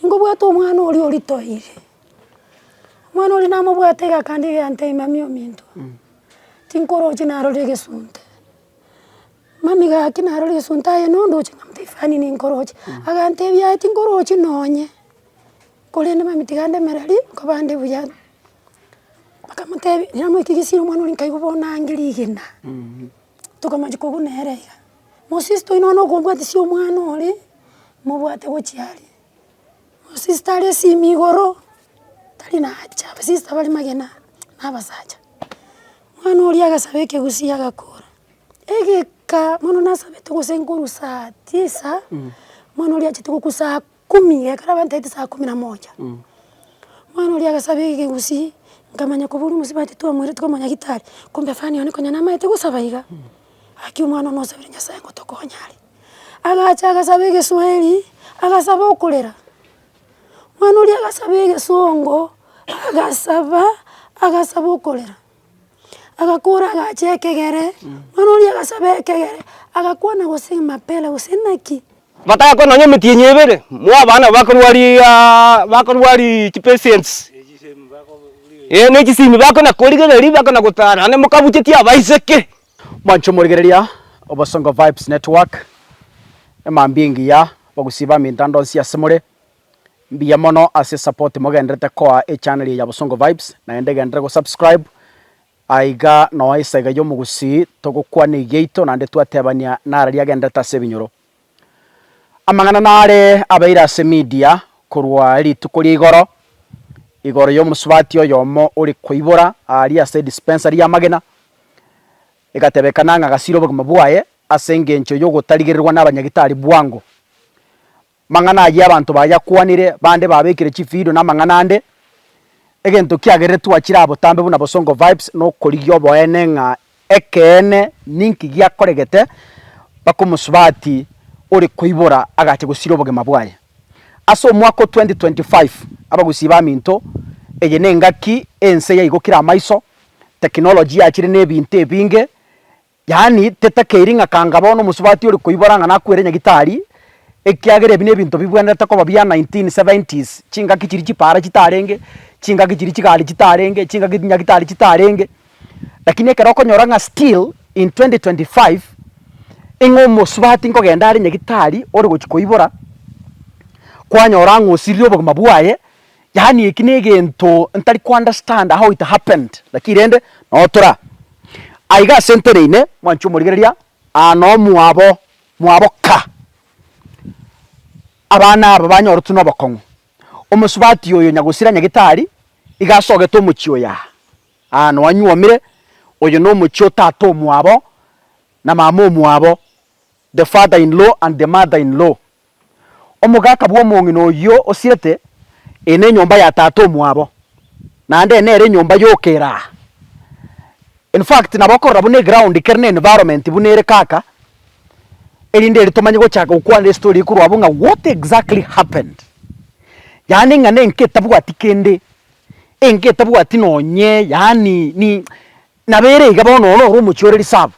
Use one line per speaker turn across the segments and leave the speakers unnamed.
Ningobwate omwana oria oritoire, omwana oria namobwate egakanda iga yantebia, mami ominto, tinkoroche narore egesunte, mami gaki narore egesunte aye na ondoche nkamotebi ifani ninkoroche, agantebi yaya tinkorochi nonye, korende mami tiga ndemere ri nkobande buya, bakamotebi, namoikigisirie omwana oria nkaigwa bono nange rigena. Tokomochia kogwa nere iga. Mosister oino bono okombwatisia omwana ore, mobwate gochia aria. Mosister are esimi igoro, tari nacha, abasister bare magena na abasacha. Omwana oria agasaba ekegusii agakora, egeka mono nasabete gose nkorusatia esaa, omwana oria achete gokusaku. Kumi, ekero abantaete saa kumi na moja, omwana oria agasaba egegusii, nkamanya koba oria omosibwa titwamoireti komanya gitari, kumbe fani one konya namaete gosaba iga, gaki omwana one osabire Nyasaye ngotokonya are. Agacha agasaba egeswahili, agasaba okorera, mwana oria agasaba egesongo, agasaba, agasaba okorera. Agakora agacha ekegere, mwana oria agasaba ekegere, agakwana gose emapera gose naki. Batagakora nonya
emetienyi ebere, mwa abana bakorwa riaaa bakorwa rii chipesents, eh ne chisimi bakona korigereria bakona gotara naende mokabucheti abaiseke. Mwancho morigereria
Obosongo Vibes Network, emambia engiya, abagusii ba emetando nsi ase more. Mbuya mono ase support mogenderete koa echaneli ya Bosongo Vibes, naende genderera go subscribe aiga noa esaega y'omogusii togokwana egiaito naende twatebania nararia agenderete ase ebinyoro. Amang'ana nare abeire ase media korwa rituko ria igoro, igoro y'omosubati oyomo ore koibora aria ase dispensary y'amagena, egatebekana ng'a gasiire obogima bwaye ase engencho y'ogotarigererwa nabanyagitari bwango. Mang'ana ayio abanto bayakwanire, bande babekire chividio na amang'ana ande. Egento kiagerire twachire aa botambe buna Bosongo Vibes nokorigia oboene ng'a ekeene ninki giakoregete mpaka omosubati ore koibora agacha gosira obogima bwaye. Ase omwaka o 2025, abagusii baminto eye ne engaki ense yaigokire amaiso, technology yachire nebinto ebinge Yaani, tetakeiri ng'a kanga bono omosubati ore koibora ng'a nakwere nyagitari, ekiagera ebi nebinto bibwenerete koba bia 1970s, chingaki chiria chipara chitarenge, chingaki chiria chigari chitarenge, chingaki nyagitari chitarenge, lakini ekero okonyora ng'a still in 2025 ing'o omosubati nkogenda are nyagitari ore gochia koibora, kwanyora ng'a osirire obogima bwaye, Yaani eki negento ntari ko understand how it happened lakini rende notura aiga ase nteneine mwanche omorigereria aa nomwabo mwabo ka abana aba banyoretwe nobokong'u omosubati oyo nyagosira nyagitari iga asogete omochie oyo aa aa nowanyuomire oyo nomochie otato omwabo na mama omwabo. The father-in-law and the mother-in-law, Omogaka bw'omong'ina oyio osirete, Eye nenyomba ya tata omwabo, naende eye nere enyomba y'okeraa. In fact, nabo okorora buna eground kere n'environment buna ere kaka, erinde eri tomanye gochaka gokwana estory eye korwa abwo ng'a what exactly happened. Yaani ng'a nenki etabwati kende, enki etabwati nonye yaani ni nabo ere iga bono oro noro omochie ore reserve.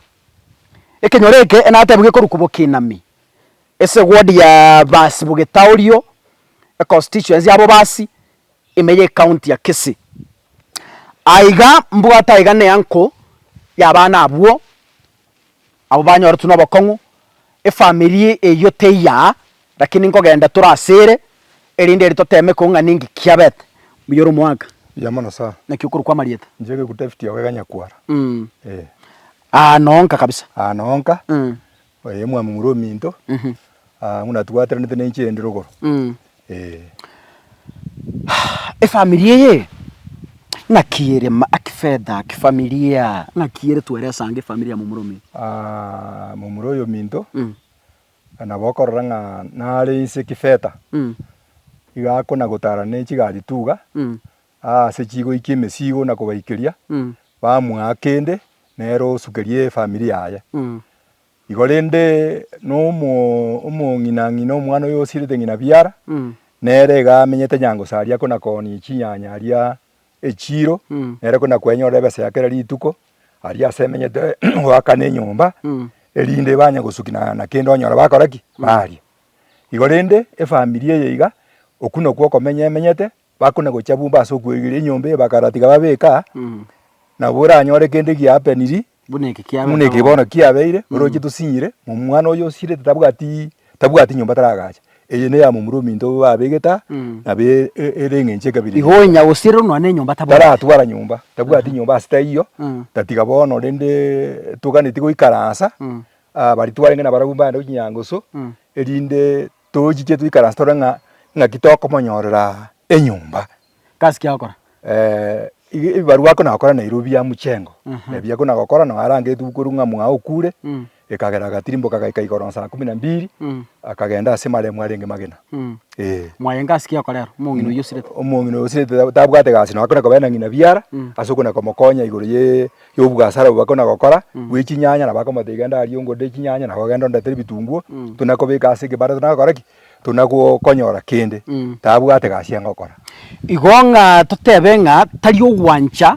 Ekenyoro eke enatebiwe gekorwa Kubokinami, esegwodi ya Baasi Bogetaorio, econstituency ya Bobasi, ime ye county ya Kisii. Aiga mbwate aiga neanko yabana abwo, abwo banyoretwe nobokong'u, efamiri eyio teiyaa Lakini nkogenda tore ase ere, erinde ere toteeme ko ng'a ninki kiabete buya ore omoaka. Buya mono sir. Naki
okorwa kwa amarieta.
Inche egeguta efiti ya obegania
kwara. Eeh. Aa noo
nka kabisa. Aa noo nka.
Oyo omwami muru ominto. Aa ng'una twaterenete ne inche endi rogoro. Eeh.
Efamiri eye ng'aki ere aa kifedha, kifamilia, ng'aki ere tweresa ange efamiri ya momura ominto. Aa
momura oyo ominto. Nabo okorora ng'a nare inse kifeta, igo akonagotara ne chigari tuga aase chigoikia emesigo na kobaikeria, bamoa kende nere osukerie efamiri yaye. Igo rende na omo- omong'ina ng'ina omwana oyo osirete ng'ina biara, nere iga amenyete nyango saria akonakonia chinyanya aria echiiro, nere ko nakwenyora ebesa ya kera rituko, aria ase emenyete goakana enyomba, erinde banye gosuki na na kende onyora bakora ki? Baria. Igo rende, efamiri eye iga, oku nokwo okomenya emenyete, bakona gocha bumba ase okweigeria enyomba eye bakaratiga babeka, nabo oranyore kende giapeniri, Buna eke kiabeete Buna eke bono kiabeire, oroche tosinyire, omwana oyo osirete tabwati tabwati nyomba taragacha, eye neya momura ominto obo babegete aa, nabo e- e- ere eng'encho ekabere Igo onya gosira onwa na
enyomba tabwate. taratwara nyomba,
tabwati nyomba ase taiyo, tatiga bono rende toganeti goikaransa aa baria twarenge nabarabwo bande gochia nyangusu, erinde tochiche toikaranse tore ng'a ng'aki tokomonyorera enyomba Gasi ki agokora?
Eh, ebibarua
ako nagokora nairobio bia muchengo Aha. ebi ako nagokora no arangetwe korwa ng'a mwao okure Mm. ekagera agatirimboka agaika igoro saa kumi na mbiri Mm. akagenda ase maremu arenge magena Mm. eh Mwayenga
ase ki agokora ero? Omong'ina oyio osirete. omong'ina osirete
ta- tabwate gasi no akona kobera na ng'ina biara Mm. ase okona komokonya igoro ye y'obwasara obwo akona gokora bwe chinyanya nabo akomoteba genda aria ongodere chinyanya nabo ogende ondetera ebitunguo Mm. tuna kobeka ase ekebanda tuna gokora ki tuna gokonyora kende, tabwate gasi enga okora. Igo ng'a
totebe ng'a tari ogwancha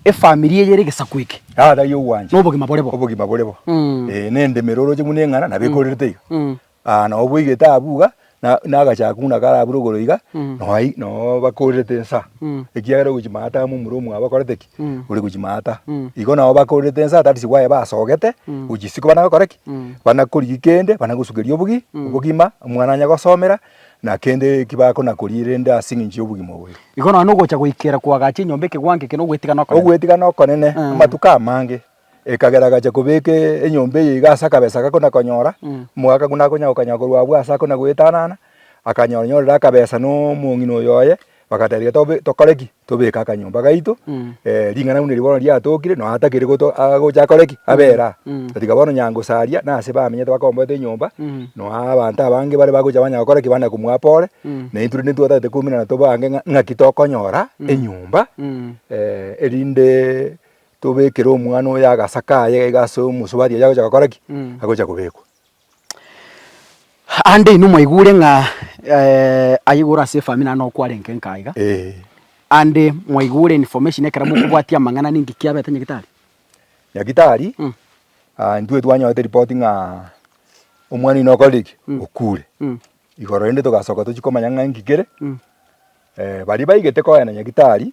efamiri eye ere egesaku eke. Aa tari ogwancha. Na
obogima bore bo. Obogima bore
bo. Mm.
Eh, na endemo ere oroche buna eng'ana nabo ekorerete iga. Mm. Aa, na obweigete abwo iga, na na agacha ako buna karabure igoro iga, Mm. no ai- no bakorerete ensa. Mm. Ekiagera ogochi maata amo omura omwabo akorete ki? Mm. Ore gochi maata. Mm. Igo nabo bakorerete ensa, that is why basogete, gochi isiko bana gokora ki? Mm. bana korigi kende bana gosukeria obogi obogima omwana anya gosomera na kende eki bakona koria rende ase eng'encho y'obogima oboyo Igo nonya ogocha goikera
koagacha enyomba ekegwango eke na ogwetigana okonene. ogwetigana
okonene Mm. amatuko amange ekagera agacha kobeka e- enyomba eye iga ase akabesa gakona konyora Mm. omogaka buna akonya gokanya korwa abwo ase akona goetanana akanyora nyorire akabesa na omong'ina oyo oye Bagatebia, Tobe, tokore ki? Tobeke akanyomba gaito, eh, ring'ana buna eri bono riatokire, nonya atakiri goto- ah, gocha akore ki? Abere aa. Na tiga bono nyangosaria, na ase bamenyete bakomboete enyomba, nonya abanto abange bare bagocha banya gokora ki? Bana komwaa pore, na intwe rende ntibwatagete kominana tobange ng'a ng'aki tokonyora enyomba, eh, erinde tobekere omwana oyo agasaka aye iga ase omosubati oyo agocha gokora ki? Agocha kobekwa.
Aande inwe mwaigure ng'a aye igoro ase efamiri naende nokwarenge nkaa iga, aande mwaigure information ekero mokobwatia amang'ana ninki kiabete nyagitari? Nyagitari, intwe twanyorete ripoti ng'a
omwana oino okorire ki? Okure. Igoro rende togasoka tochia komanya ng'a inki kere? Baria baigete kogenda nyagitari,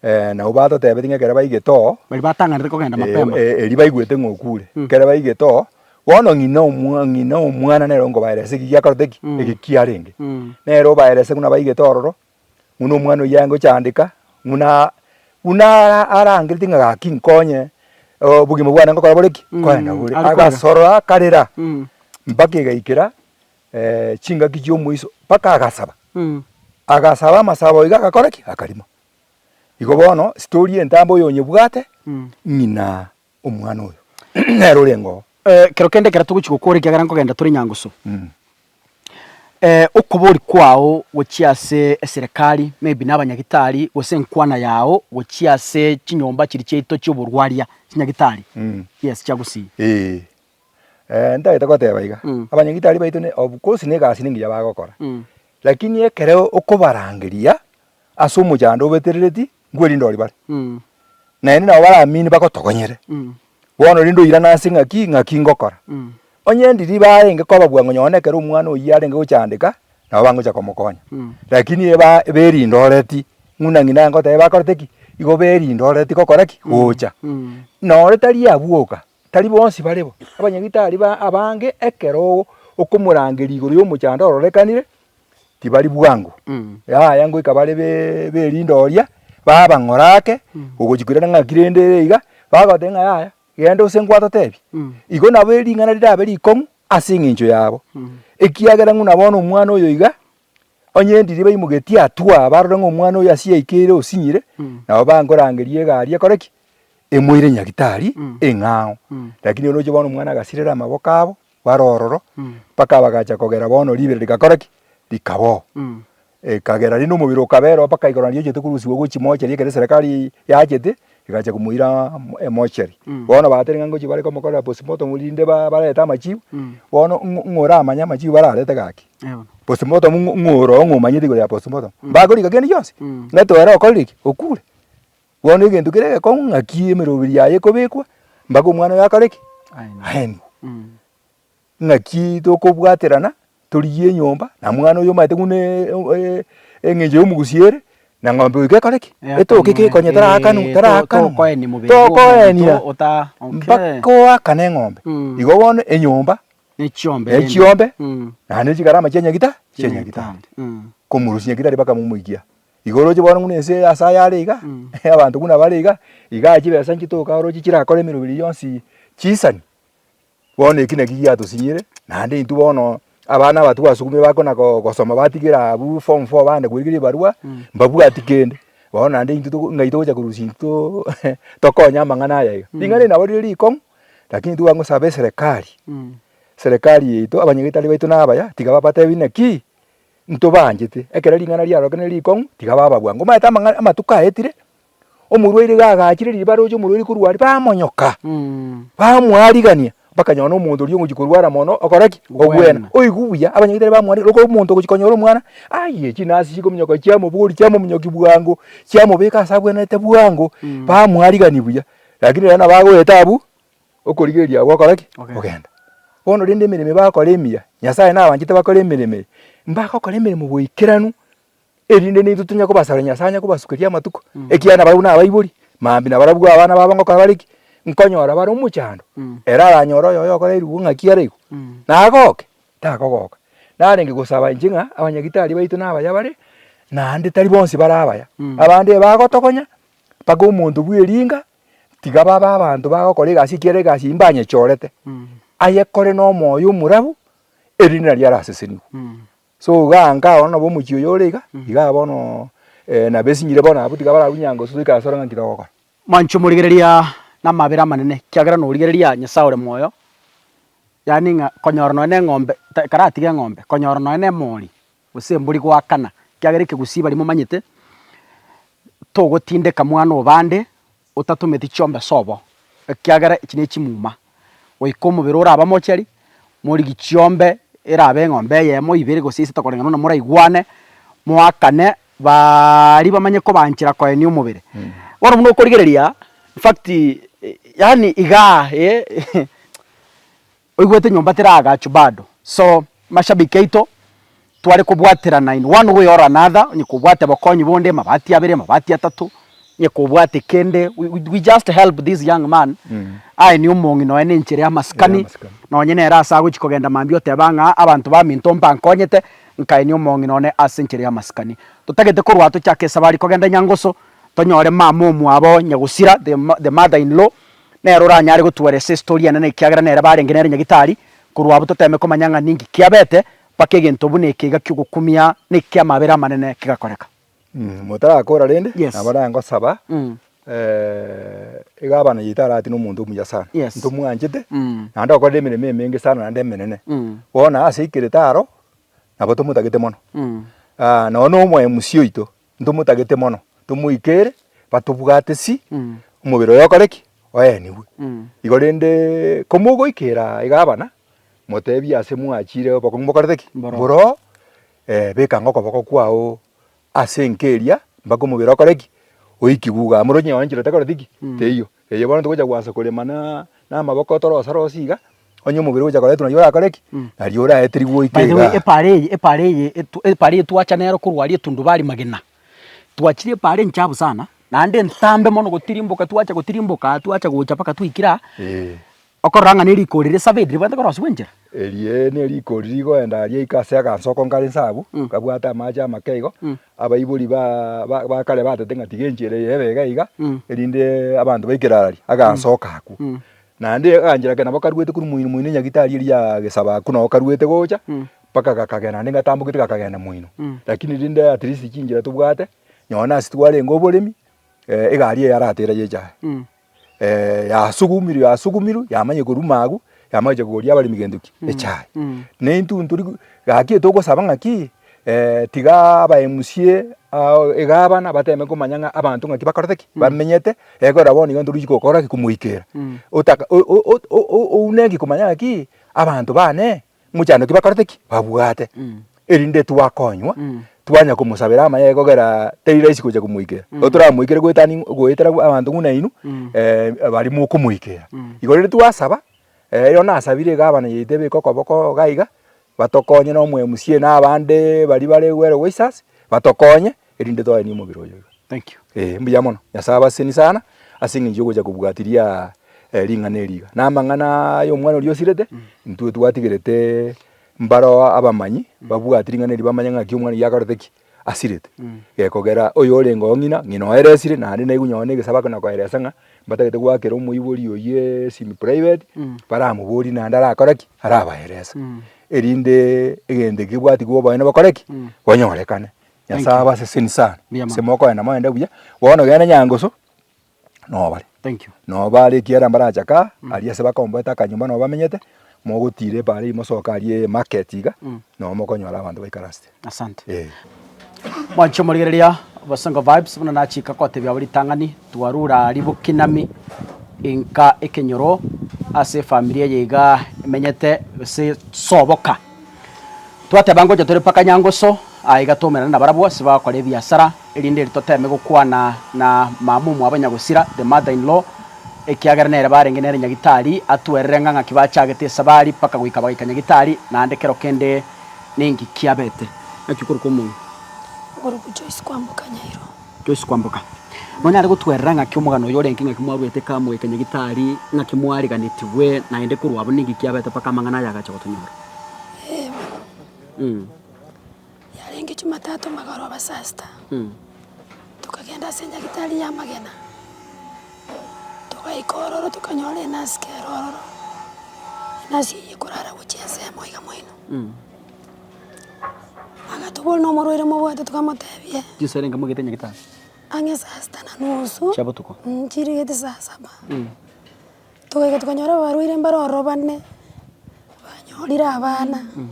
Eh, nabo batotebetie ng'a ekero baigete oo, Baria batang'anire kogenda
eh, mapema. eh, erio baigwete ng'a
okure. Mm. Ekero baigete oo, bono ng'ina omwa- ng'ina omwana nere onkobaeresa eki giakorete ki, Mm. eki kiarenge. Mm. Nere obaerese buna baigete ororo, buna omwana oyio aye ngochandeka, buna buna ara- arangereti ng'a gaki nkonye, obogima bwane ngokora bore ki, Mm, nkorenda bore. ari korera. Agasorora akarera, Mm. mpaka egaikera chingaki chi'omoiso mpaka agasaba, agasaba amasabo iga agakora ki? Akarima. Igo bono story entambe oyonyebwate ng'ina omwana oyo nere oreng'oo. Kero kende ekero
togochia gokora ekiagera nkogenda tore Nyangusu, okobori kwao gochia ase eserekari maybe na abanyagitari gose enkwana yao gochia ase chinyomba chiria chiaito chi'oborwaria chinyagitari yes chiagusii.
Ee, ntagete goteba iga, Mm. abanyagitari baito ne of course na egasi nengiya bagokora, Mm. lakini ekero okobarangeria ase omochando obeterereti, nkwerinde oria bare, Mm. naende nabo baramini bagotogonyere, Mm. bono rende oirana ase ng'aki ng'aki ngokora. Mm. Onye ndiri barenge kobabua ng'a nonye ekero omwana oyio arenge gochandeka, nabo bangocha komokonya, Mm. lakini eba berindoreti ng'una ng'ina ngoteba bakorete ki, igo berindoreti gokora ki, gocha. Mm. Noro tari abwoka, tari bonsi bare bo. Abanyagitari aria ba- abange ekero o- okomorangeria igoro y'omochando ororekanire, tibari bwango. Yaya ngoika bare be- b'erinde oria, babang'ora ake, ogochia koirana ng'aki rende ere iga, bagoteba ng'a yaya, genda ase ngwatotebi. Igo nabo ering'ana rirabe rikong'u ase eng'encho yabo, ekiagera ng'u na bono omwana oyo iga, Onye endiri baimugetie atwa, barore ng'a omwana oyo asie yaikeire osinyire, nabo bankorangeria egari ekore ki? Emoire nyagitari eng'ao. Lakini oroche bono omwana agasirera amaboko abo bare ororo, mpaka bagacha kogera bono ribere rigakora ki? Rikaba oo. Ekagera rende omobere okaba ere oo mpaka igoro nariachete korusigwa gochia mochari ekero eserekari yachete, Egachia komoira emochari, bono batere ng'a ngochia bare komokorera postmortem rinde barete amachibu, bono ng'a oramanye amachibu bararete gaki, postmortem ng'a oroo ng'a omanyete igoro ya postmortem, mbakorika kende gionsi? Ng'a toore okorire ki? Okure? Bono egento kere egekong'u ng'aki emeroberi yaye ekobekwa mpaka omwana oyo akore ki? Aenigwe. Ng'aki tokobwaterana torigie enyomba na mwana oyo omanyete buna eng'encho y'omogusi ere, na ng'ombe oyo gekore ki? Etoke ki konya tarakanwa tarakanwa tokoenia mpaka oakane eng'ombe. Igo bono enyomba ne chiombe naende chigarama chia nyagita chia nyagetari. Komorosia nyagetari mpaka momoikia. Igo oroche bono buna ense ase aya are iga, abanto buna bare iga, igaa chibesa inche toka oroche chirakore emeroberi yonsi chisani. Bono eki naki giatosinyire, naende intwe bono abana aba twasukumire bakona go- gosoma batigera abwo form four bande korigereria ebarwa, mbabwati kende. Bono naende intwe toko ng'ai togocha korusia intwe too tokonye amang'ana aya iga. Ring'ana eri nabo rire rikong'u, lakini intwe twangosabe eserekari, serekari yaito, abanyagetari baito na abaya, tiga babatebi naki ntobaanchete. Ekero ring'ana riarorokenire rikong'u, tiga baba bwango. Omaete amang'a amatuko aetire, omorwaire iga agachire riria baroche omorwaire korwa aria, bamonyoka, bamoarigania, bakanyora na omonto oria ogochia korwara mono, okora ki? Obwena. Obwena. Oigwe buya, abanyagitari bamwarigania, rokoro omonto ogochia konyora omwana, aye chinase chikominyoka chiamobori, chiamominyoki bwango, chiamobeka ase abwenerete bwango, bamoarigania buya, rakini rero nabo agoeta abwo, okorigereria agwo gokora ki? Ogenda. Ogenda. Bono rende emeremo ebi bakora emiya, Nyasaye nabanchete bakore emeremo eye, mbagokora emeremo boikeranu, erinde naintwe tonyare kobasabera Nyasae anye kobasukeria amatuko, ekiagera nabarabwo nabaibori, mambia nabarabwo abana babo ngokora bare ki? Nkonyora bare omochando, ere aranyore oyoyo okorairwe bo ng'aki are igo, nagoke? Takogoka. Narenge gosaba inche ng'a abanyagitari baito nabaya bare, naende tari bonsi bare abaya. Abande ebagotogonya, mpaka omonto bw'eringa, tiga babe abanto bagokora egasi ekiagera egasi eyio mbanyechorete, ayekore nomoyo omorabu, erinde nario arasesenigwe. So gaanka bono nabo omochie oyo ore iga, igaa bono nabo esinyire bono abwo tiga bararwe nyango sosi goika ase ore ng'a nki togokora. Manche omorigereria
namabera amanene, ekiagera norigereria Nyasae ore moyo, yaani ng'a konyora nonye na eng'ombe ta ekaratiga eng'ombe, konyora nonye na emori gose embori goakana, ekiagera ekegusii baria momanyete, togotindeka mwana o bande. Otatometi chiombe sobo, ekiagera echi nechimuma, goika omobere orabe mocheri, morigi chiombe erabe eng'ombe eyemo, ibere, gose isato koreng'ana buna moraigwane, moakane, baaria bamanye kobaanchera koenia omobere. Bono buna okorigereria, infact, yaani igaa, eeh. Oigwete nyomba teragachu bado so mashabiki aito tware kobwaterana in one way or another onye kobwate bokonyi bonde mabati abere mabati atato onye kobwate kende we just help this young man aye ne omong'i nonya ne enchera ya masikani nonya nere ase agochi kogenda mambia oteba ng'a abanto ba minto mpankonyete nkae ne omong'i none ase enchera ya masikani totagete korwa tochake esabari kogenda nyangoso tonyore mama omwabo nyagusira the mother in law. Nere oranyare gotwora ase estori enene ekiagera nere barenge nere nyagitari, korwa abwo toteeme komanya ng'a ninki kiabete mpaka egento buna eke iga ki'ogokumia na eki'amabera amanene kegakoreka. Motarakora
rende, Yes. nabo naye ngosaba, Mm. iga abana yaito aratine omonto omuya sana, Yes. ntomwanchete, Mm. naende okorire emeremo emenge sana naende emenene, Mm. bono ase aikerete aro, nabo tomotagete mono. Mm. nonye na omoe musio oito. ntomotagete mono tomoikere batobwate si mm. omobere oyo okore ki oenigwe mm. igo rende komogoikera iga abana motebie ase mwachire obokong'u bokorete ki boro eh, bekanga okoboko kwao ase enkeria mpaka omobere okore ki oikigwe iga amore onye oanchire otakoreti ki mm. teiyo Erio bono togocha gwansa korema na namaboko torose rose iga, onye omobere ogocha koretwa naria orakore ki? Mm. Naria oraeterigwe goika By the way, igaa. epaara eye, epaara
eye, etu- epaara eye twacha nero korwa aria etundubari magena. Twachire epaara enchafu sana, naende entambe mono gotirimboka, twacha gotirimboka, twacha gocha mpaka twaikire aa, Eeh. Okorora ng'a ne rikori risabeti ribwate korosia gwenchera. Erie ne
rikori rigoenda aria iko ase aganso oko nkare inse abwo, nkabwata amache amake igo, abaibori ba ba ba kare batete ng'a tiga enchera eye ebe iga iga, erinde abanto baikere araria, aganso oko akwo. Naende aganchera ake nabo karuete korwa moino moino Nyagitari eria ya Gesaba akwo nabo karuete gocha, mpaka gakagenda naende ngatambogete gakagenda moino. Rakini rende at least chinchera tobwate, nonye nase twarenge oboremi, egari eye yarateera yecha aye. yasugumirwe yasugumirwe yamanya koruma agwo yamanya gocha kogoria abaremi gento ki mm. echae mm. ne intwe tori gaki togosaba ng'aki eh, tiga aba MCA uh, egabana bateme komanya ng'a abanto ng'aki bakorete ki mm. bamenyete ekora eh, bono iga ntorichi gokora ki komoikera mm. oune ki komanya ng'aki abanto bane mochando ki bakorete ki? Babwate. Erinde twakonywa, twanya komosabera amayega kogera teri rahisi gocha komoikera. Igo toramoikere goetani goetera abanto ng'u nainwe eh bari mokomoikera. Igo rero twasaba, erio nasabire egabana yaito ebeke okoboko iga iga, batokonye na omwe mca na abande baria bare Wero Waisasi, batokonye, erinde toaenie omobere oyoyo. Thank you. Eh, mbuya
mono. Nyasae abaseni
sana ase eng'encho yogocha kobwatiria eh, ring'ana eri iga. Na amang'ana ayo omwana oria osirete, intwe twatigerete mbaro abamanyi babwati ring'ana eri bamanye ng'aki omwana oyio akorete ki, asirete. Eh, kogera oyo orenge oo ng'ina, ng'ina oeresire naende naigu nonye na egesabo akona koeresa ng'a mbatagete goakera omoibori oyio esimi private, baramoborie naende arakore ki, arabaerese. Erinde egento eki kebwatigwa oboene bokore ki, bonyorekane. Nyasae abaseseni sana ase mokoenda moende buya bono genda nyangusu nobare nobare
ekiagera
mbarachake aa mm. aria ase bakomboete akanyumba nabo bamenyete mogotira ebaara eyi mosoke aria emarket iga mm. nabo mokonyora abanto baikaransete asante eh.
mwanchi omorigereria bosongo vibes buna nachika kotebia abo ritang'ani twarura ribokinami inka ekenyoro ase efamiri eye iga emenyete gose soboka Twateba ngocha tore mpaka Nyangusu, aiga twaumerane nabarabwo ase bagokora ebiasara, erinde ere toteme gokwana na mama omwabo nyagosira, the mother in law, ekiagera nere barenge nere nyagitari, atwerere ng'a ng'aki bachagete esabari mpaka goika bagaika nyagitari, naende kero kende ninki kiabete. Naki okoruka omonwa. Okoruka
Joyce kwamboka Nyairo. Toise kwamboka.
Nonyare gotwerera ng'aki omogano oyo orenge, ng'aki mwaruete kamoika Nyagitari, ng'aki mwariganetigwe, naende korwa abwo ninki kiabete mpaka amang'ana aya agacha gotonyora? Eeh, bono.
Yarenge Jumatatu magoro aba saa sita, tokagenda ase Nyagitari y'amagena, togaika ororo tokanyora enasike ere ororo, enasike eye ekorara gochia ensemo iga moino. Agatoboria nomorwaire mobwate tokamotebia. Chinsa ere nkamogete enye
gete ase. Ang'e saa sita
na nusu. Chia botuko. Mh,
chirigeti saa
saba. Mh. Togaika tokanyora abarwaire mbare ororo bane, banyorire abana. Mh.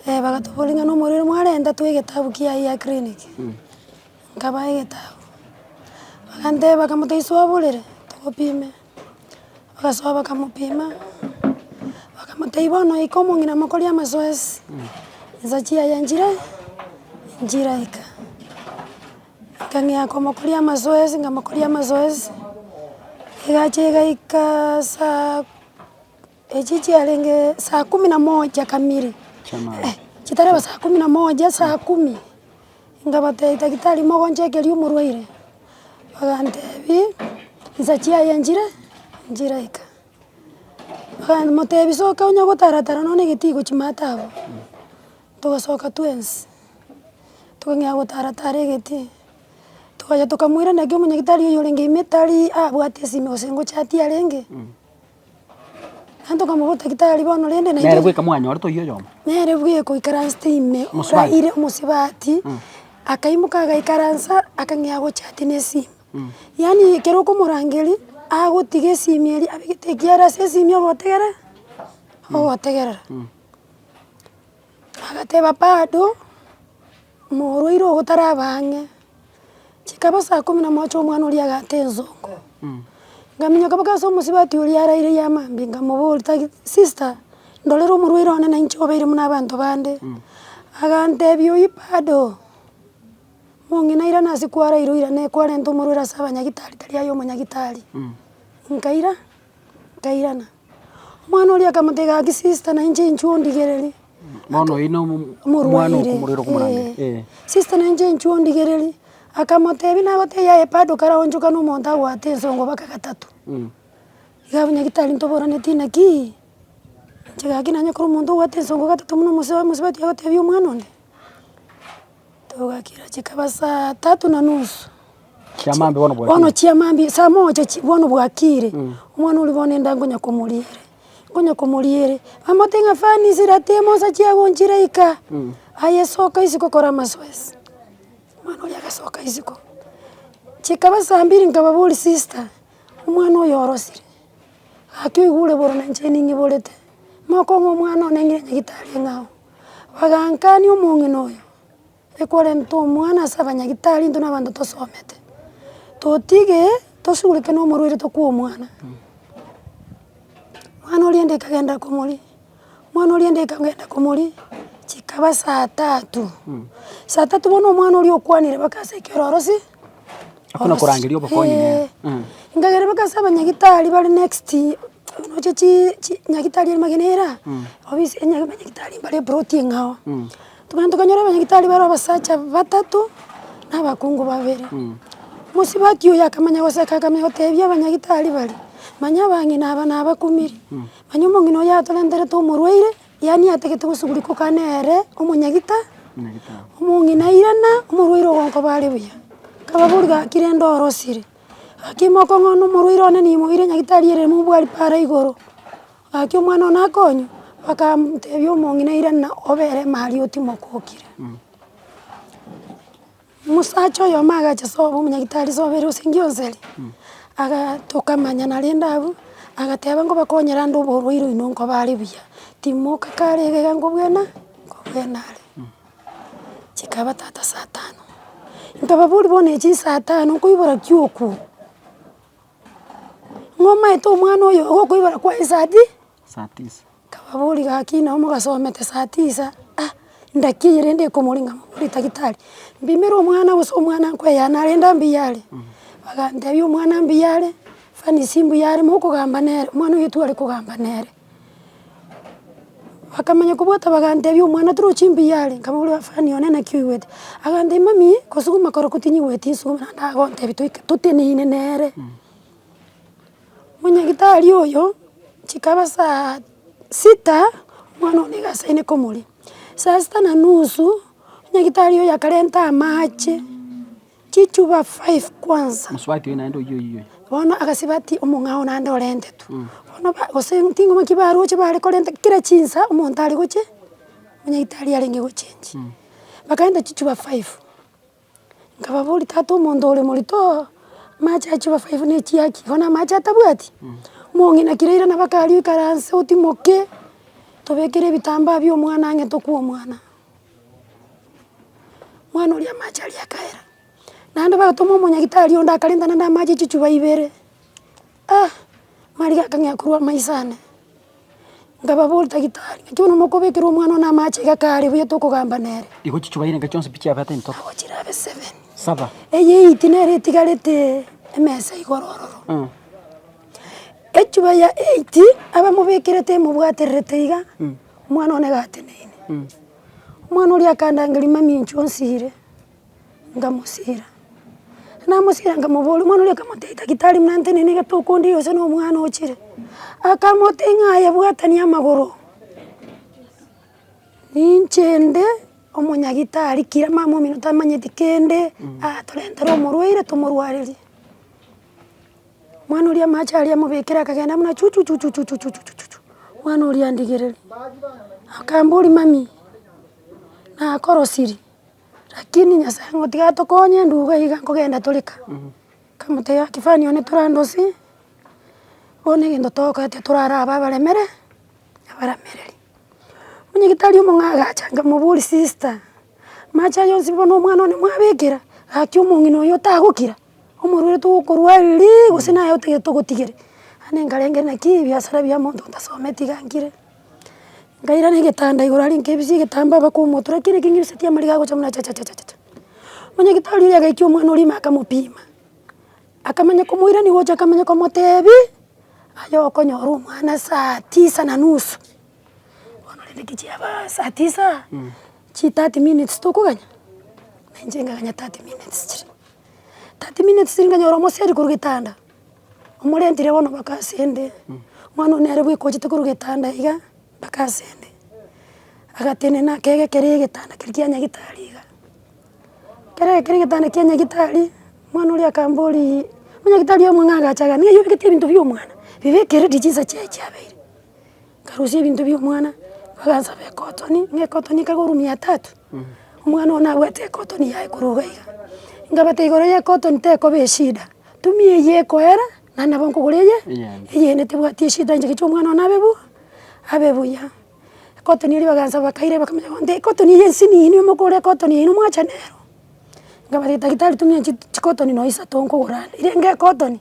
Eh, bagatoboria ng'a nomorwaire mwarenta twa egetabu kiaye gia clinic. Mh. Nkabae egetabu. Baganteba kamote iso oborere, togopime. Bagasoa bakamopima, bakamotebia bono ika omong'ina mokori amasoesi, insa chiaye nchire nchiraika. Nkang'ea komokoria amasoesi nkamokoria amasoesi, egachia egaikaa saa. Echi chiarenge saa kumi na moja kamili, chitaraba saa kumi na moja, saa kumi, ngabatebia daktari mogonchekeria omorwaire, bagantebia nsa chiaye nchire nchiraika, bakamotebia soka onya gotara tara nonye na egetigo chimata abwo, togasoka twensi, tokang'ea gotara tara egeti, togacha tokamoiraneria naki omonyagitari oyorenge ime tari abwate esimi gose ngochati arenge. Abanto bakamobwata gitari bono rende naende. Nere bweka mwanyorete oyio
oyomo. Nere bweka oikaransete
ime Omosubati. oraire omosubati, akaimoka agaikaransa akang'ea agochati na esimi. Yaani ekero okomorangeria, agotiga esimi eria abegete ekiara ase esimi ogotegerera, ogotegerera. Agateba bado. Omorwaire ogo taraba ang'e. Chikaba saa kumi na mocha omwana oria agaata ensongo. Ngaminyoka mpaka ase omosibati oria araire ya mambia nkamoboria tagi sister ndorera omorwaire one na inche obeire buna abanto bande. Agantebia oyio bado, mong'ina airane ase kwaraire oirane kwarenta omorwaire ase abanyagitari tari aye omonyagitari. Nkaira, nkairana. Omwana oria akamotebia, Gaki sister, na inche inchuo ondigererie. Bono oyio no- mo-
omwana Omorwaire, okomorera okomorania. eh. Eh. Sister na inche inchuo
ondigererie. Akamotebia, nagotebia aye bado karaonchokane omonto agoate ensongo baka gatato. Mm. Iga abwo nyagetari ntoboraneti inaki, inche gaki nanyakore omonto ogoata ensongo gatato buna omosubati agotebia omwana onde. Togakira chikaba saa tatu na nusu. Chiamambia
bono bwakire. Bono chiamambia saa
moja chi bono bwakire. Mm. Omwana oria bono enda ngonya komoria ere. Ngonya komoria ere. Amate ng'a fani sirate mosa chiagonchire ika. Mm. Aye soka isiko kora amasoesi. Omwana oria agasoka isiko. Chikaba saa mbiri nkababoria sister, omwana oyo orosire. Gaki oigure boronencheni ng'iborete. Mokong'u omwana one ng'ire nyagitari ng'ao. Bagaakania omong'ina oyo, ekorenta omwana ase abanyagitari intwe nabanto tosomete, totige tosugurike nomorwaire tokwe omwana. Mwana oriende ekagenda komoria, mwana oriende ekagenda komoria, chikaba saa tatu, saa tatu bono omwana oria okwanire baka ase ekioro orosi, Hakuna korangeria
obokonyi
nere. eeh. Nkagera
baka ase
abanyagitari bare
next.
Oche chi chi nyagitari ere magena era, obise enya abanyagitari mbare eproti eng'ao. Tokogenda tokanyora abanyagitari bare abasacha batato, na abakungu babere. Mosibati oyo akamanya goseka akamanya gotebia abanyagitari baria, manya abang'ina aba nabakumiri, manya omong'ina oyo atorenterete omorwaire, yaani atagete gosugurikwa kaa nere omonyagita omong'ina irana omorwaire ogokoba are buya. Kababori gaki rende orosire. Gaki imoka ong'oone omorwaire one niyemoire nyagitari ere mobwari pa are igoro, gaki omwana one akonywa, bakamtebia omong'ina irana obe ere mari otimoke okire. Omosacha oyomo agacha sobo omonyagitari sobo ere ase engionsi eria, agaa tokamanyana rende abwo, agateba nkobakonyere ande oborwaire oino nkoba are buya, timoka kare iga iga nkobwena, nkobwena are. Chikaba tata saa tano, nkababoria bono echi nsaa tano nkoibora ki okwo? Ng'a omaete omwana oyo igo okoibora kwaye saa ti, nkababoria gaki nabo mogasomete saa tisa, ah ndaki eye rende ekomoringa moborie tagitari, mpimera omwana gose omwana nkoyaya narende mbuya are, bagantebia omwana mbuya are, fanisi mbuya are, mokogamba nere, omwana oyo tware kogamba nere. Bakamanya kobwata bagantebia, Omwana toro chimbuya are? Nkamoboria, Bafani, one naki oigwete? Agantebia, Mami, kosuguma korokwo tinyigweti nsuguma naende agontebia toike toteneine nere. Monyagitari oyo, chikaba saa sita, omwana one iga asaine komoria. Saa sita na nusu, nyagitari oyo akarenta amache. Chichuba five kwansa. Mosubati oye naende oyio
oyio. Bono agasibati
omong'ao naende orente tu. Mm. Bono ba gose ting'oma ki baroche bare korenta kera chinsa omonto are goche, onyagetari arenge gochengi. Mm. Bakarenta chichuba five, nkababoria tata omonto ore moritooo, amache a chichuba five ne chiaki? Bono amache atabwati? Mm. Mong'ina kira ira nabo akaria oikaranse otimoke, tobekere ebitambaa bia omwana ang'e tokwe omwana. Mwana oria amache aria akaera, naende bagotoma omonyagitari onde akarenta naende amache chichupa ibere, ah mariga akang'ea korwa amaiso ane, nkababoria tagitari naki bono mokobekera omwana one amache iga kare buya tokogamba nere. Igo chichupa irenga iga chionsi
pi chiabete into? Nabo chirabe seven.
Saba. Eye
eyiti nere
etigaretee emesa igoro ororo. Mh. Echupa ya eight abamobekerete emobwatererete iga. Mh. Omwana one gateneine. Omwana oria akandangeria, Mami, inche onsire? Nkamosira. Namosira nkamoboria, omwana oria akamotebia, Daktari, buna nteneine gete okondire gose nomwana ochire? Akamotebia ng'a aye bwatania amagoro, ninche nde omonyagitari, kira mama omino tamanyeti kende, atorentera omorwaire tomorwarerie. Omwana oria amache aria amobekera akagenda buna chuchuchuchuchuchuchuchu, omwana oria andigereri, akambori mami, nakorosiri, rakini nyasaye ng'a tiga atokonye nduga iga nkogenda toreka, nkamotebia ng'a kifani one torandosi, bono egento togokora tiga toraraba abaremere, abaramereri. Onyagetari omong'ai agacha nkamobori sister, amache aya onsi bono omwana one mwabekera, gaki omong'ina oyo otagokira. Omorweri togokorwa ariri gose naye otagete togotigere. Ande nkarenge naki ebiasara bia monto ntasometi iga nkire, nkairana egetanda igoro aria nkaebisia egetambaa mpaka omotura kera ekeng'iriseti amariga agocha buna chachachachacha. Monyagitari oria agaikia omwana oria ime akamopima, akamanya komoirani gocha akamanya komotebi, aye okonyora omwana saa tisa na nusu, bono rende ki chiabaa saa tisa, chi thirty minutes tokoganya? Na inche nkaganya thirty minutes chiria. 30 minutes ere nkanyora omoseri korwa getanda, omorentire bono baka ase ende, omwana oyio nere bweka ochete korwa getanda iga, baka ase ende, agatenena akegekera egetanda keria kia nyagitari iga, ekero agekiire egetanda kia nyagitari, omwana oria akamboria, nyagitari oyo omong'aa agacha iga, niye oyobekete ebinto bia omwana, bibekere ri chinsa chiaye chiabeire. Nkarusia ebinto bia omwana, bagansaba ekotoni, ng'a ekotoni ekare korwa mia tatu, omwana ogo nabwate ekotoni yaye korwa iga iga. Nkabata igoro ya ekotoni tekoba eshida, tumi eyio ekoera, naende nabo nkogora eye eyende tebwati eshida inche ngechie omwana one abe buya, abe buya. Ekotoni eria bagansaba bakaira bakamanya bono nte ekotoni eye nsinini omokore ekotoni yaino mwachane nero. Nkabata daktari tumia chi chikotoni nonya isato nkogora ande, riria nka ekotoni.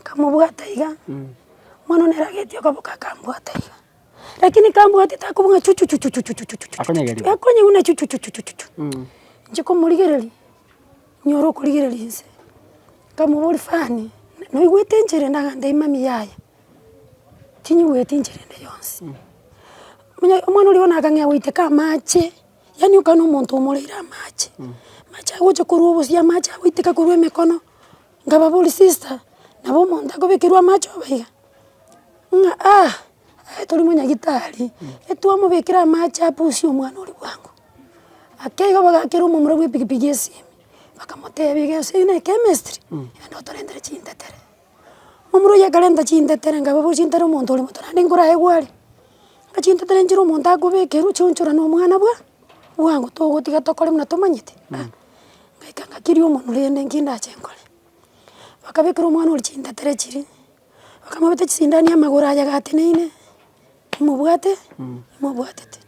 Nkamobwata iga, omwana one eragetie okoboka akambwata iga, rakini kambwatete akobung'a ng'a chuchuchuchuchuchuchuchuchu. Akonyegeria. Gakonyeguna chuchuchuchuchuchuchu. Nchie komorigereria, nyore okorigereria inse, nkamoboria fani, noigwete enchera ende? Agantebia mami yaya, tinyigweti enchera ende yonsi. Omonye omwana oria bono akang'ea goiteka amache, yaani okana omonto omoreire amache, amache aye gocha korwa obosie amache agoiteka korwa emekono. Nkababoria, Sister, nabo omonto akobekerwa amache obe iga? Ng'a ah, aye tori monyagitari, etwamobekera amache apusie omwana oria bwango. Ake igo bagakera omomura bw'epikipiki esimi, bakamotebia iga ase eyio ne chemistry, genda otorentere chintetere. Momura oyio akarenta chintetere nkababoria, chintetere omonto ore moto naende nkorae gware? Ng'a chintetere nchire omonto akobekerwa chionchorane omwana bwa bwango togotiga tokore buna tomanyete? Ah. Ngaika ng'akiria omonwe rende nki ndache nkore. Bakabekera omwana oria chintetere chiria, bakamobeta chisindani amagoro aye agateneine, omobwate, omobwatete.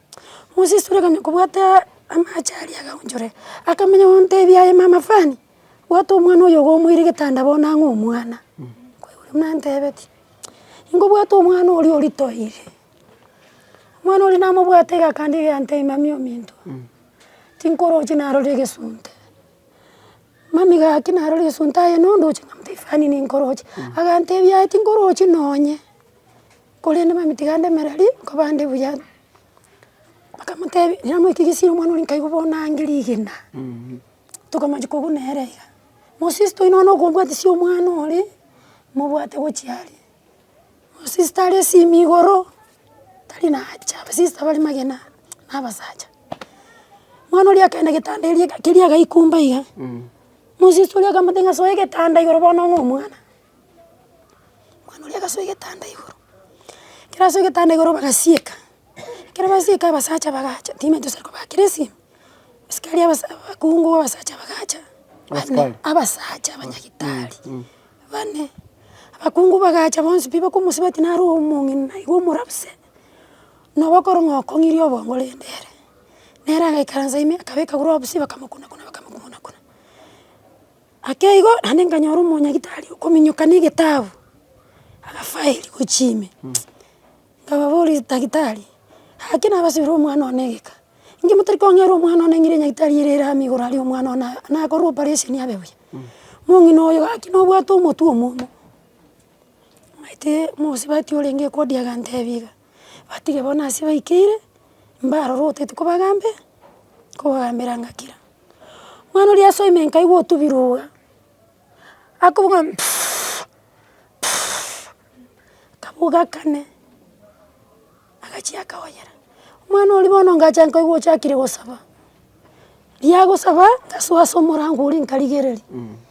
Mosesura akanya kobwataa amache aria agaonchore, akamanya gontebia aye mama fani, bwata omwana oyo iga omoire getanda bono ang'e omwana, kwaigure buna antebetie. Ngobwata omwana oria oritoire, omwana oria namobwate iga akandegia akantebi mami ominto. tinkoroche narore egesunte. Mami gaki narore egesunte aye nondoche ng'a Tiffany ninkoroche, agantebia aye tinkorochi nonye, korende mami tiga ndemera ri nkobande buya. Bakamotebi namoika gesieri omwana oria nkaigwa bono ange rigena, tokomochia kobuna ere iga. Mosisto oino bono okobwatisia omwana ore, mobwate gochia aria. Omosista are esimi igoro, tari nacha abasista bare magena na abasacha. Mwana oria akaenda getanda eria keria agaikumba iga, mosista oria akamotebia ng'a soe egetanda igoro bono ong'e omwana. Mwana oria agasoa egetanda igoro, ekero asoa egetanda igoro bagasieka, ekero basieka abasacha bagacha, tibamenyete gose kobakera esimi. Abasikari abasa abakungu abasacha bagacha, bane abasacha abanyagitari bane, abakungu bagacha bonsi pi bakomosiba ati nare omong'ina iga omorabise, nabo okorora ng'a okong'irie obongo rende ere. Nere agaikaransa ime akabeka gloves bakamokuna kuna bakamokuna kuna. Ake igo naende nkanyora omonyagitari okominyoka na egetabu, agafile gochia ime, nkababoria daktari, ake nabasibire omwana one egeka. Inche motari kong'eera omwana one ng'ire nyagitari ere ere amo igoro aria omwana one aa nakorwe operation abe buya. Mong'ina oyo gaki nobwate omotwe omomo, omanyete mosubati orenge ekodi agantebi iga, batige bono ase baikeire, mbaroro otagete kobagambe, kobagambera ngakira. Mwana oria ase ime nkaigwa otubire oga, akobogoma puuuff puuff akaboga kane. Agachia akaoyera, Omwana oria bono ngacha nkaigwa ochakire gosaba. Rigia gosaba, ngasoa ase omorango oria nkarigereria.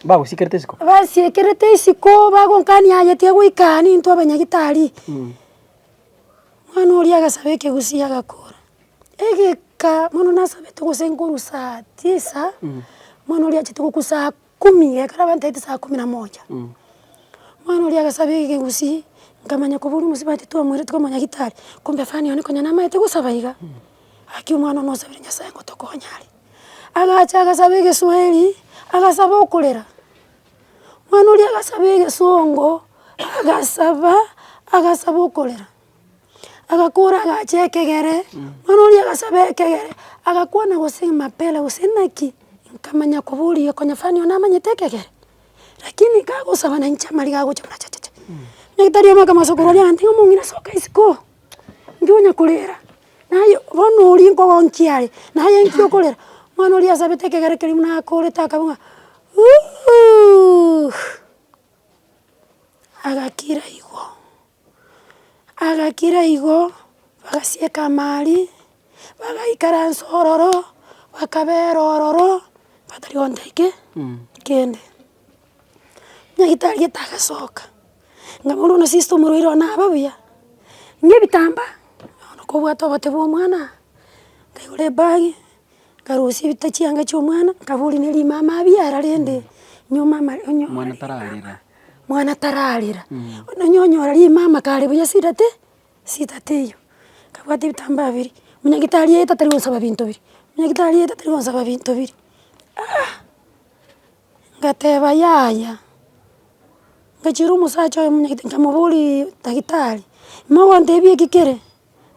Bagosiekerete
isiko. Basiekerete isiko
bagonkania aye tiga goika aa nintwe abanyagitari. Omwana oria agasaba ekegusii agakora. Egeka mono nasabete gose nkorusa tisa, omwana oria achete gokusa Kumi, ekero abantaete saa kumi na moja, omwana oria agasaba ekegusii, nkamanya koba oria omosibwa titwamoireti koba omonyagitari, kumbe fani one konya namaete gosaba iga, gaki omwana one osabire Nyasaye ngotokonya are. Agacha agasaba egeswahili, agasaba okorera, omwana oria agasaba egesongo, agasaba, agasaba okorera. Agakora agacha ekegere, mwana oria agasaba ekegere, agakwana gose mapera gose naki, nkamanya koboria konya fani oyo namanyete ekegere? Rakini kagosaba nainche amariga agocha buna chachacha. Nyagitari omo akama sokoro oria agantebia ng'a omong'ina soka isiko, nki onya korera, naye bono oria nkoba onchiare, naye nki okorera? Mwana oria asabete ekegere keria buna akorete akaba ng'a uuhh agakira igo. agakira igo, bagasieka amaari, bagaikaransa ororo, bakabera ororo, batari gonta ki kende. Nyagetari gete agasoka, ng'a bono bono sister omorwaire one abe buya, ng'ebitambaa, bono kobwate obote bwa omwana, nkaigora ebagi. nkarusia ebita chianga chi'omwana, nkaboria ne rimama abuya ara rende, nyomwa ama onyo. Omwana tararera. Mwana tararera, onye onyora rimama kare buya sidate, sidate eywo. Nkabwata ebitambaa biri, monyagitari aye tatari gonsaba binto biria, monyagitari aye tatari gonsaba binto biria, aah! Ngateba yaya, ngachiera omosacha oyo monyagitari nkamoboria, daktari, mogontebia eki kere.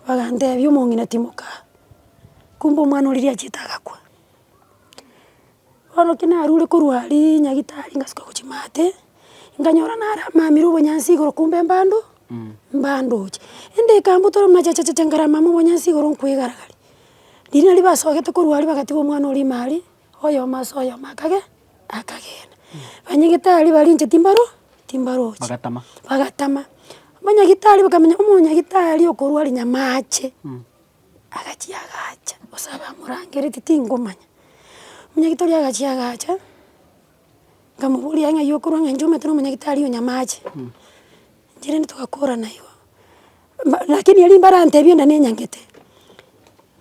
Bagantebia, Omong'ina timoka, kumbe omwana oriri achiete agakwa. Bono ki narure korwa aria nyagitari ngasuka gochia maate, nkanyora nare amamire obonyansi igoro kumbe mbando, mbandoche. Ende ekambutera buna chachachacha nkarama mobonyansi igoro nkoegaragaria. Riria nari basogete korwa aria bagatiga omwana oria ime aria. Oyomo ase oyomo akage akagenda. Banyagitari baria inche timbaro timbarochi. Bagatama. Bagatama. Omonyagitari bakamenya omonyagitari okorwa rinyamaache, agachia agacha gose abamorangereti tingomanya. Omonyagitari oria agachia agacha, nkamoboria ng'ai okorwa ng'a inche omanyete na omonyagitari o nyamaache. Inchera nitogakora naigo, mba lakini erio mbare antebi onde nenyangete,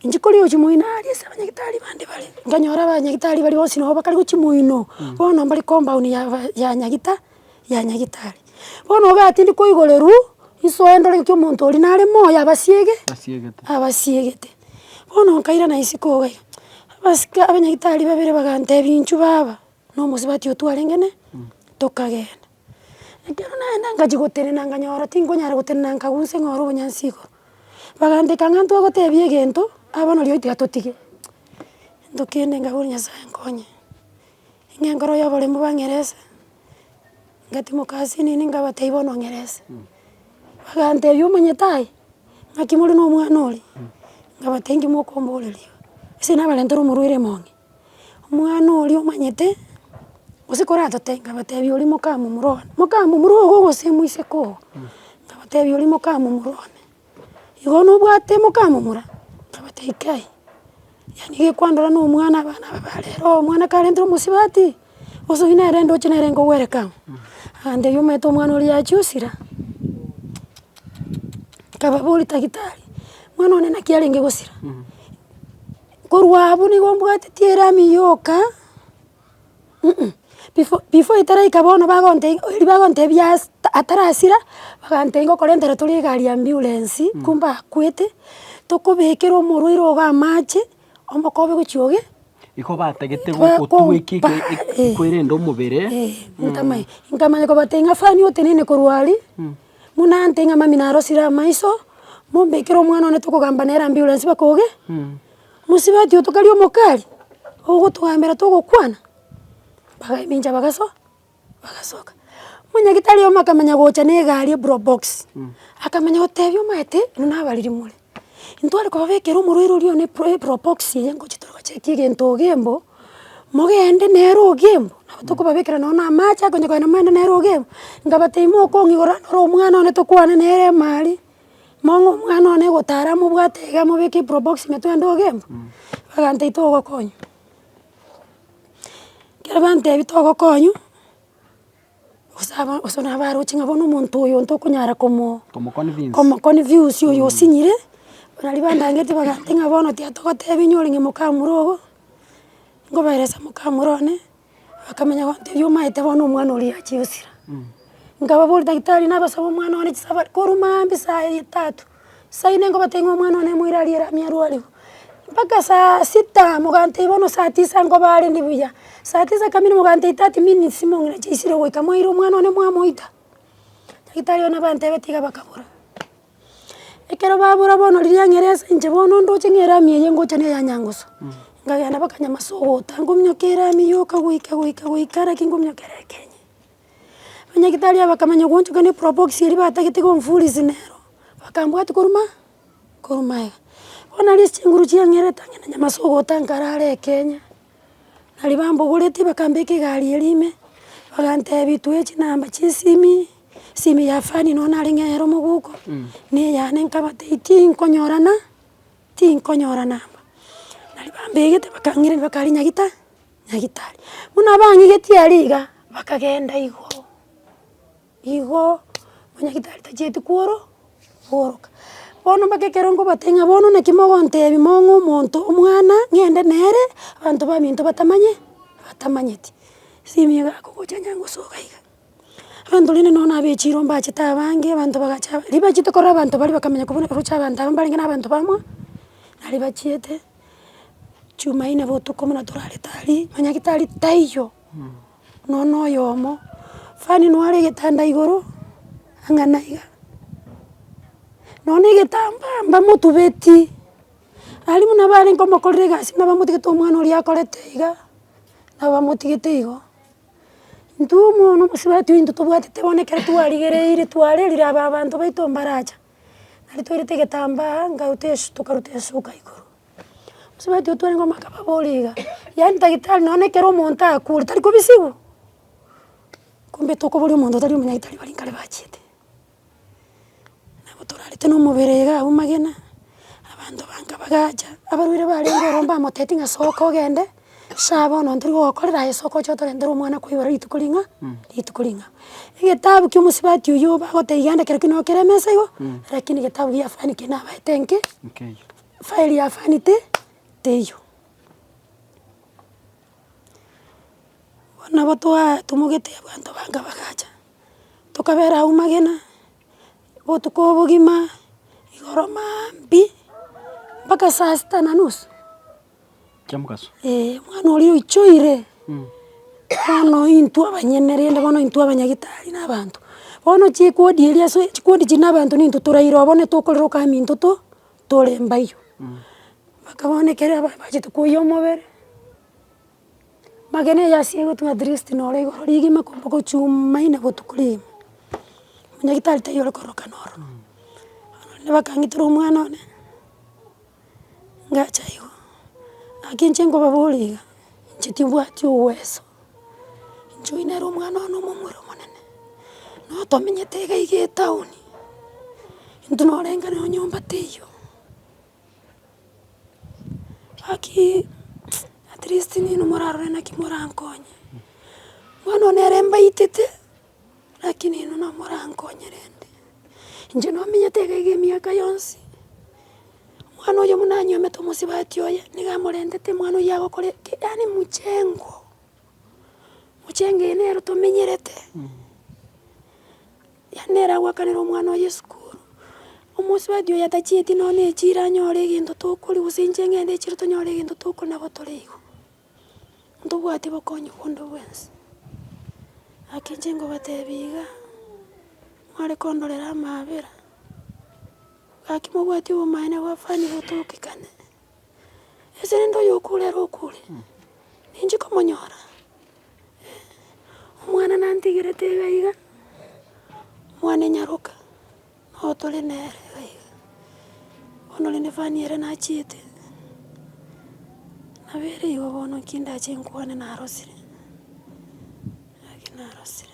inche kori ochi moino aria ase abanyagitari bande bare, nkanyora abanyagitari baria bonsi nabo bakare gochia moino, bono mbare compound ya ba ya nyagita ya nyagitari. Bono obe atindi koigoreru, isoe ndore ng'aki omonto oria nare moyo abasiege abasiegete. Bono nkairana isiko iga iga, abasike abanyagitari babere bagantebi inchuo baba, na omosubati otwarenge ne tokagenda. Ekero naenda ngachia gotenena nkanyora tinkonyara gotenena nkagusa eng'oro ya obonyansi igoro, baganteka ng'a ntogotebia egento aye bono rirorio tiga totige, ento kende nkabora nyasaye nkonye, ng'a enkoro y'oboremu bang'erese, ngatimoka ase nini nkabatebia bono ng'erese, bagantebia omonyete aye ng'aki more na omwana oria, nkabatebia nki mokomboreria, ase nabarentire omorwaire monge. Omwana oria omanyete, gose koratote nkabatebia oria mokamomura one, mokamomura ogo gose moiseke ogo, nkabatebia oria mokamomura one, igo nobwate mokamomura? Nkabatebia kai, yaani gekwandora na omwana abana aba ba rero, omwana karenterwe omosubati, gose oywo nere ndoche nere nkogwereka ang'o? Agantebia omanyete omwana oria yachia osira, nkababoria tagitari, mwana one naki arenge gosira. Korwa abwo nigo mbwatitie erami yoka ih, before before etaraika bono bagontebia oiri bagontebia ase ta atarasira, bagantebia ngokorentere tore egari y'ambiurensi, kumbe akwete, tokobekera omorwaire ogo amache, omokobe gochia oge. Igo batagete
Ba- go- gotugwa eki- kompa, eki- eki- eh. ekwerende omobere. Eh, ntamanya,
nkamanya kobatebia ng'a fani otenene korwa aria. Buna ante ng'a mamina arosire amaiso, mombekere omwana one tokogamba nere ambulance bakoge, mosibati oto karia omokali, ogotogambera togokwana, bagamincha bagasoa, bagasoka. Monyagitari omo akamanya gocha na egari eprobox, akamanya gotebi omanyete, buna abariri more. Intware kobabekera omorwaire oria one pro epropox eye ngochia tore gochiekia egento ogembo, mogende nere ogembo, nabo tokobabekera nonye na amache akonye kogenda moende nere ogembo, nkabatebi mokong'igora noro omwana one tokwane nere ime aria, mong'e omwana one gotara mobwate iga mobeke epropox ime twende ogembo, bagantebia togokonywa. Ekero bantebia togokonywa. Gose aba gose nabo abaroche ng'a bono omonto oyo ntokonyara komo. Komo convince. Komo convince oyo osinyire, nari bandagete bagantebia ng'a bono tiatogotebia inyore ng'a mokamura ogo, nkoberesa mokamura one, bakamenya gontebia omanyete bono omwana oria achiire gosira. Nkababoria daktari nabasabe omwana one chisabari korwa maambia saa etatu. Saine nkobata ing'we omwana one moira arie rami arwarigwe. Mpaka saa sita mogantebia bono saa tisa nkoba arende buya, saa tisa kamili mogantebia thirty minutes mong'ina chiaisire ogoika mwaira omwana one mwamoita. Nyagitari one bantebete iga bakabora. Ekero babora bono riria ng'ere ase inche bono ndoche ng'e rami eye ngocha na eya nyangusu, nkagenda mpaka nyamasa ogota, nkominyoka erami yoka goika goika goika naki nkominyoka ere ekenyi. Abanyagitari aba bakamanya goonchoka ne probox eria batagete komfurisi nero, bakambwati korwa maa korwa magega. Bono aria ase chinguru chiang'erete ang'e na nyamase ogotanka arare ekenya, naria bambogoretie bakambeka egari eria ime, bagantebi twae chinamba chiesimi, esimi ya fani nonye nare ng'eyere omogoko, na eyane nkabatebia tinkonyorana, tinkonyorana aba. Naria bambegete bakang'ireri bakaria nyagita. Nyagitari. Buna abang'igetie aria iga, bakagenda igoro, igoo, buna nyagitari tachieti kworo kworoka. Bono mpaka ekero nkobatebia ng'a bono naki mogontebia mong'e omonto omwana ng'ende nere, abanto baminto batamanye batamanyeti. Esimi iga akogocha onye ngosoka iga, abanto rende nonya na abechiro mbachete abange, abanto bagacha ribachiete korora abanto baria bakamenya kobuna roche abanto aba mbarenge na abanto bamwa, nari bachiete. Jumaine botuko buna torarete aria, nonya gitari taiyo, nonya na oyomo, fani nware egetanda igoro, ang'e na iga, nonya na egetambaa mbamotubeti, aria buna bare nkomokorera egasi buna bamotigete omwana oria akorete iga, nabo bamotigete igo. Intwe bono omosubati oyo intwe tobwatete bono ekero twarigereire twarerire aba abanto baito mbaracha. Nari toirete egetambaa nkaruta esuka tokaruta esuka igoro. Mosubati oyio twarenge omwaka babori iga, yaani tagitari nonye ekero omonto akure tari kobisigwa? Kumbe tokoboria omonto otari omonyagitari baria nkare bachiete. Nabo torarete na omobere iga abwo magena, abanto banga bagacha, abarwaire barenge ororo mbamotebia ng'a soka ogende. Sha bono ntori gogokorera aye soka oche otorentera omwana koigoro rituko ring'a rituko ring'a. Egetabu kia omosubati oyio bagoteba iga ande kerokio nokere emesa igo rakini getabu gia fani ki nabaete nki file ya fani ti teiyo. Bono nabo twaa tumogete abanto banga bagacha, tokabera agwo magena botuko obogima igoro maambi mpaka saa sita na nusu.
Ee, omwana
oria oichoire, bono intwe abanyene rende bono intwe abanyagitari na abanto. Bono chikuodi eria ase chikuodi chiri na abanto nintwe toraire oo bono etokorera okaminto to tore mbaiyo. Mpaka bono ekero aba abachete koyia omobere, magena eye ase egotwa at least noro igoro rigima korwa gochuumaine botuko rigima, monyagitari taiyo ore korokana ororo. Bono rende bakang'itera omwana one. ngacha igo, naki inche nkobabora iga, inche tibwati obweso, inche oyio nere omwana one omomura omonene, nabo twamenyete iga iga etown, intwe nabo orenge nonye nyomba teiyo, lakini atleast nini morarore naki morankonye, bono nere mbaitete. Lakini inwe namorankonyerende, inche nomenyete iga iga emiaka yonsi. Omwana oyo buna anywomete omosubati oye, nigo amorentete omwana oyio agokora eke, yaani mchengo, mchengo eye nero tomenyerete, yaani nere agoakanera omwana oyo esukuru. Omosubati oyo atachieti nonya na echiro anyore egento tokoria gose inche ng'ende echiro tonyore egento tokona nabo tore igo. Ntobwati bokonyi bw'onde bwensi. Gaki inche ngobatebia iga, mware kondorera amaabera, gaki mobwati obomaene bwa fani botokekane, ase rende oyokure ere okure, ninche komonyora, eh. Omwana nantigerete iga iga, mwane nyaroka. Nao tore nere aiga. Bono ore nefani ere nachiete, nabo ere igo bono nki ndache nkwane narosire? Naki narosire.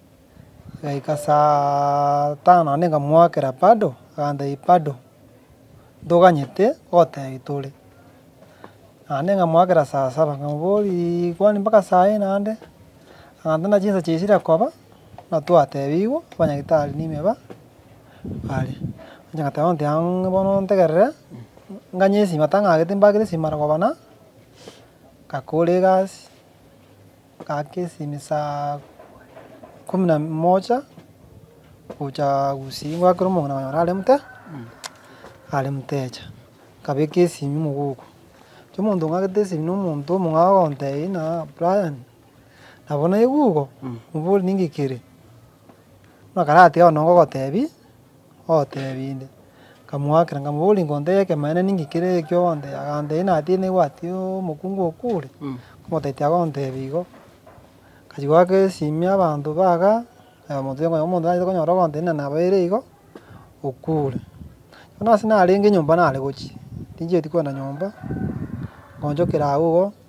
Igaika saa tano naende nkamoakera bado, agantebia bado ntoganyete gotebia tore. Naende nkamoakera saa saba nkamoboria kwani mpaka saa eye naende, agantebia buna chinsa chiaye chire koba, buna twatebigwe abanyagitari nime ba bare. Inche nkateba bono tiaang'e bono ntegerere, nganye esima tang'agete mbagere esima mara kobana, ngakora egasi, Gaka esimi saa ikomi na moja, gocha gusii ngwakera omong'ina onya orare mote, are motecha, nkabeka esimi mogoka, inche omonto ng'agete esimi na omonto omong'ao ogontebia ng'a aa Brian, nabo naigwe igo, mbori ningikere, buna karatiga bono ngogotebi. oteebie inde. Nkamoakera, nkamoboria, Inkonto y'ekemanera ninki kere ekio ogontebia? Agantebia, Inatiine egwati y'omokungu oo kure. Omotaiti agontebia igo. Nkachia goaka esimia abanto baga, omonto oyo omonto tanyarete konyora ogontebia ng'a nabaeire igo, okure. Buna ase narenge nyomba nare gochia, tinchieti kogenda nyomba, nkoonchokera agwo igo.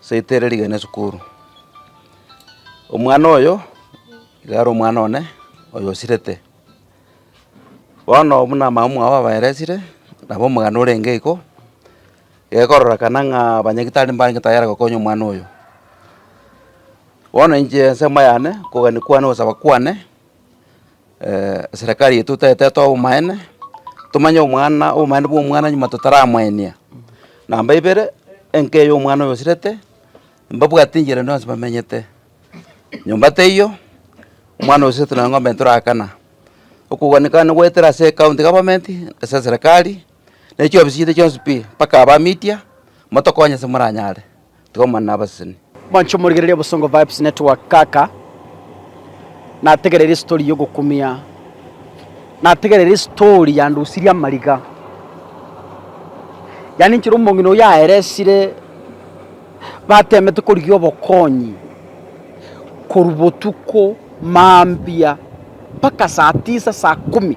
Ase rita ere rigena esukuru. Omwana oyo, nigo are omwana one, oyo osirete. Bono buna mama mwao abaeresire, nabo omogano orenge igo, egekororekana ng'a abanyagitari mbarenge tayari gokonya omwana oyo. Bono inche ase amayane, okogania kwane, ogosaba kwane. eserekari yaito totaetete obomaene, tomanye omwana obomaene bwa omwana nyuma totaramwenia. Namba ibere, enka eye omwana oyo osirete, mbabwate enchera ende yonsi bamenyete. Nyomba teiyo, omwana oyo osirete nonya ng'ombe ntorakana. Okogwanikana nigo goetera ase ekaunti government, ase eserekari, ne chiofisi chiaito chionsi pi, mpaka aba media, motokonye ase moranyare. tikomana nabaseseni. Mwanche morigererie
Obosongo Vibes Network kaka nategereire story yogokumia nategereire story yandusirie amariga yaani nchera omong'ina oyio aeresire batemete korigia obokonyi korwa botuko mambia mpaka saa tisa saa kumi.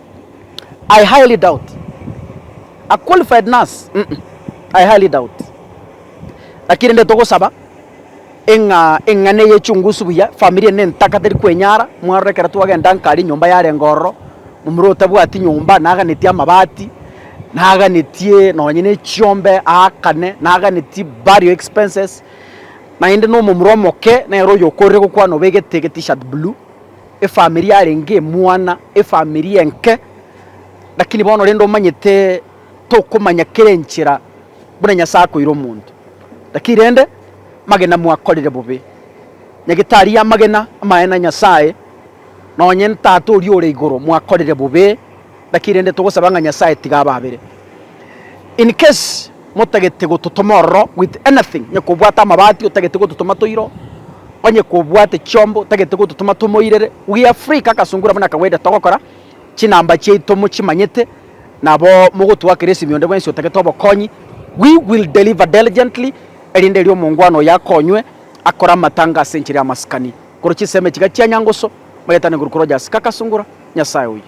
I highly doubt. A qualified nurse, mm, I highly doubt. Lakini rende togosaba eng'a eng'ana eye echungusu buya, famiri ende ntaka teri kwenyara, mwarora ekero twagenda nkare nyomba yarenge ororo, momura otabwati nyomba naganetie amabati, naganetie nonye nechiombe aakane, naganetie burial expenses, naende nomomura omoke nere oyo okorire gokwana obegete egetishirt blue. Efamiri yarenge emwana, efamiri enke, lakini bono rende omanyete tokomanya kera enchera buna Nyasae akoira omonto, lakini rende magena mwakorire bobe. Nyagetari y'amagena, amaene a Nyasae, nonye n'Tata oria ore igoro, mwakorire bobe. Naki rende togosaba ng'a Nyasae tiga ababere. In case motagete gototoma ororo with anything, onye kobwate amabati otagete gototoma toiro, onye kobwate chiombo otagete gototoma tomoirere, we are free kaka sungura buna kawaida togokora, chinamba chiaito mochimanyete, nabo mogotwakera esimi onde bwensi otagete obokonyi, we will deliver diligently, erinde erio omongwana oyo akonywe, akore amatanga ase enchera y'amasikani, korwa chisemi echiga chia Nyangusu, magetane korwa korwa Jasi kaka sungura, Nyasae oyo.